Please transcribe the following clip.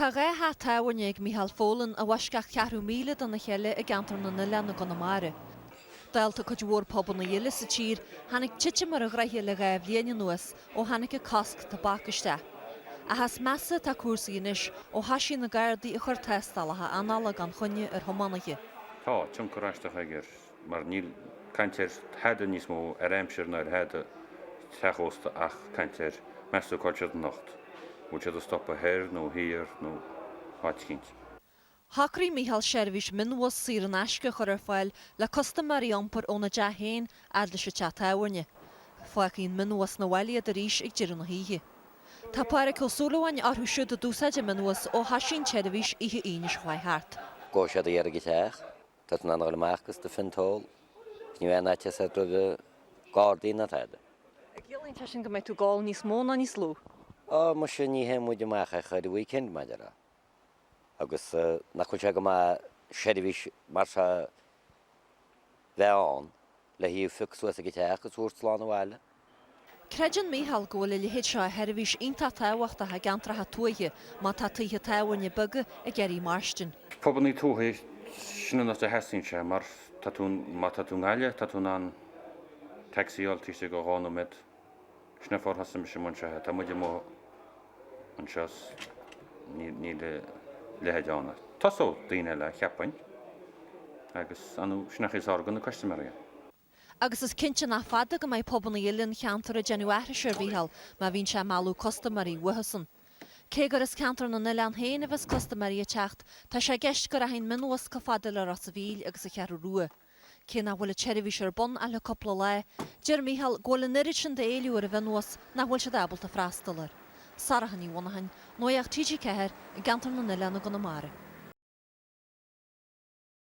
Tá dhá theach tábhairne ag Micheál Folan, i bhfoisceacht ceathrú míle dona chéile i gCeantar na nOileán i gConamara. Dálta cuid mhór pubanna eile sa tír, tháinig titim ar a ghnaithe le dhá bhliain anuas, ó tháinig an cosc tobac isteach. Ach is measa atá cúrsaí anois, ó thoisigh na Gardaí ag cur tástálacha anála gan choinne ar thiománaithe. Tá tionchar aisteach ag ar mar níl caint ar thada níos mó, ar aimsir ná ar thada sa teach ósta. Caint ar Meas tú cá'il siad anocht? An bhfuil siad ag stopadh thoir nó thiar nó áit eicínt? Shocraigh Micheál seirbhís mionbhus saor in aisce a chur ar fáil le custaiméirí a iompar óna dtigh féin fhad leis an teach tábhairne. Fágfaidh an mionbhus 'na bhaile iad arís ag deireadh na hoíche. Tá Pádraig Ó Súilleabháin orthu siúd a d'úsáid an mionbhus ó thoisigh an tseirbhís oíche Aoine seo chuaigh thart. Go raibh siad ag iarraidh a theacht. Tá tú in ann a dhul amach agus do phint a ól 's ní bheidh aon fhaitíos roimh gardaí ná tada. An gciallaíonn sé sin go mbeidh tú ag ól níos mó ná níos lú? Á, muise ní théann muid amach ach ar an weekend mar dhea. Agus nach bhfuil sé go maith seirbhís mar seo bheith ann? le thú a phiocadh suas ag an teach is a thabhairt slán abhaile. Creideann Mícheál go bhfuil a leithéid seo de sheirbhís iontach tábhachtach i gceantracha tuaithe má tá tithe tábhairne beaga ag iarraidh mairstin. Pobail tuaithe, sin an áit a theastaíonn sé mar tá tú, má tá tú i nGaillimh, tá tú in ann taxi a fháil taobh istigh de dhá nóiméad. Nuair a thosaigh mise an minibus, tá muid amuigh anseo 's níl a leithéid ann. Tosóidh daoine eile, cheapfainn, agus anois nach é is fearr do na custaiméaraí é. Agus is cinnte nach fada go mbeidh pubanna eile an cheantair ag déanamh aithris ar Mhícheál má bhíonn sé ag mealladh custaiméaraí uathusan. Cé gur as Ceantar na nOileán féin a bheas custaiméaraí ag teacht, tá sé i gceist go rachaidh an mionbhus chomh fada le Ros a' Mhíl agus an Cheathrú Rua. Cé nach bhfuil an tseirbhís ar bun ach le cúpla lá, deir Micheál go bhfuil an oiread sin d'éileamh ar an mhionbhus nach bhfuil siad ábalta freastal air. Sorcha Ní Mhonacháin, Nuacht TG4, i gCeantar na nOileán i gConamara.